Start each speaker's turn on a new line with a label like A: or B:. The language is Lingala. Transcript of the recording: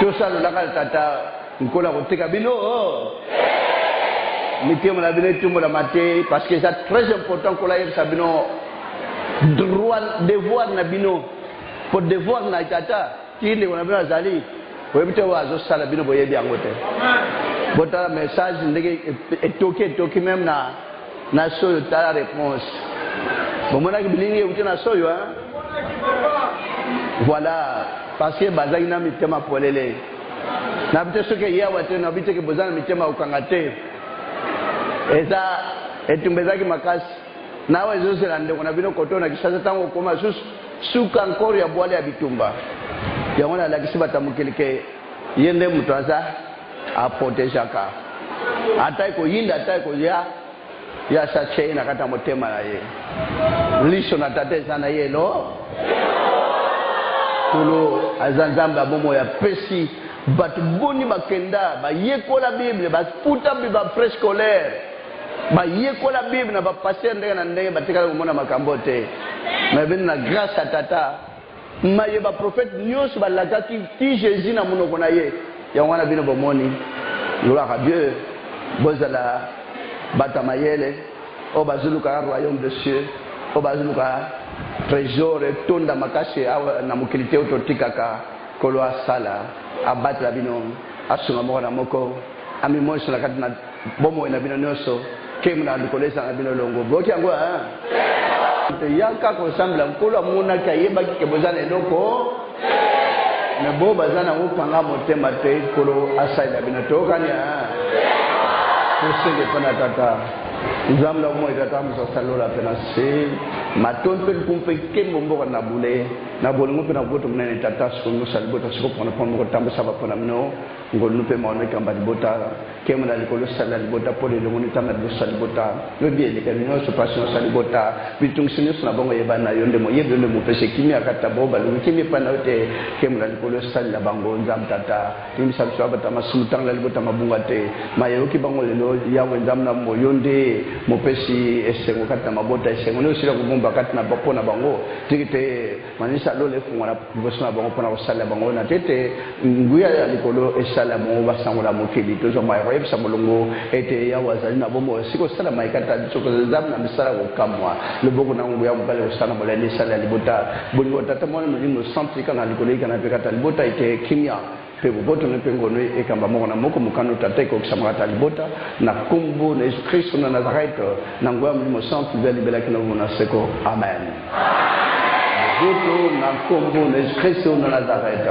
A: tosalolaka tata nkolo akoteka bino mitema na bino etumbolama te parce que eza très important nkolo ayebisa bino droit devoir na bino po devoir na tata ti ndeko na bino azali oyebi te oyo azosala bino boyebi yango te botala message ndenge etoki etoki meme na Na soyo tala reponse. Bomonaki bilingi ewuti na soyo hein? Voilà parce que bazalaki na mitema polele. Nabi te soki eye awa te nabi te ke boza na mitema ya kokanga te. Eza etumba ezalaki makasi. Na awa ezozela ndeko na bino koto na Kinshasa tango okoma lisusu suka encore ya bwale ya bitumba. Yango nalakisi bato ya mokili ke ye nde moto aza A protegeaka ata ekoyinda ata ekoya ye asatia ye na kati ya motema na ye liso na tata eza na ye lo kulu aza nzambe ya bomoi apesi bato boni bakenda bayekola bible bafuta bafrais scolaire bayekola bible na bapaster ndenge na ndenge batikala komona makambo te me bino na grâce ya tata Maye ba prophète nionso ba lakaki ti Jesus na munoko na ye yango wana bino bo moni gloire à Dieu bo zala batu ya mayele oyo bazo luka na royaume de cieux oyo bazo luka tresor etonda makasi awa na mokili te oyo to tikaka nkolo a sala a batela bino a sunga moko na moko Ami moiso na kati na bomoi na bino nioso kembo na likolo eza na bino longo boyoki yango hein te yaka kosambela nkolo amonaki ayebaki ke boza na eloko me bo baza na mokanga motema te nkolo asalela bino toyokani tosenge mpo na tata nzambe na bomoi tata mosasa lola mpe na se matondi mpe likumu mpe nkembo mboka na bule na bolingo mpe na boboto monene tata sikomosa libota sikopona mpo mokotambwisaka mpo na bino Ngolu mpe maono ekamba libota, nkembo na likolo esalela libota, pole elongo na etanda liboso ya libota. Yo biye elekeli nyonso, mpasi nyonso ya libota, mitungisi nyonso na bongo eyebani na yo nde moyebi, yo nde mopesi kimia, kati na baoyo baluki kimia epai na yo te, nkembo na likolo esalela bango. Nzambe Tata, limbisa biso babata masumu, tanga na libota mabunga te, maye eyoki bango lelo, Yawe Nzambe na bomoi, yo nde mopesi esengo kati na mabota, esengo nde osila kobomba kati na mpo na bango, tiki te. Manisisa lola efungola liboso na bango mpo na kosalela bango oyo na te ete nguya ya likolo esalela bango basangola mokili. Tozwa mai ya koyebisa molongo ete Yawe azali na bomoi oyo esika kosala mai kati na biso kozali Nzambe na misala ya kokamwa. Loboko na nguya mobali ekosala na molende esalela libota bolingo Tata, Mwana, Molimo Santu ekanga likolo ekana mpe kati na libota ete kimia, mpe boboto na ye mpe ngolu na ye ekamba moko na moko mokano Tata ekokisamaka ta libota, na nkombo na Yesu Kristo na Nazarete, na nguya ya Molimo Santu, libela libela kino bomoi na seko. Amen. Boboto na nkombo na Yesu Kristo na Nazarete.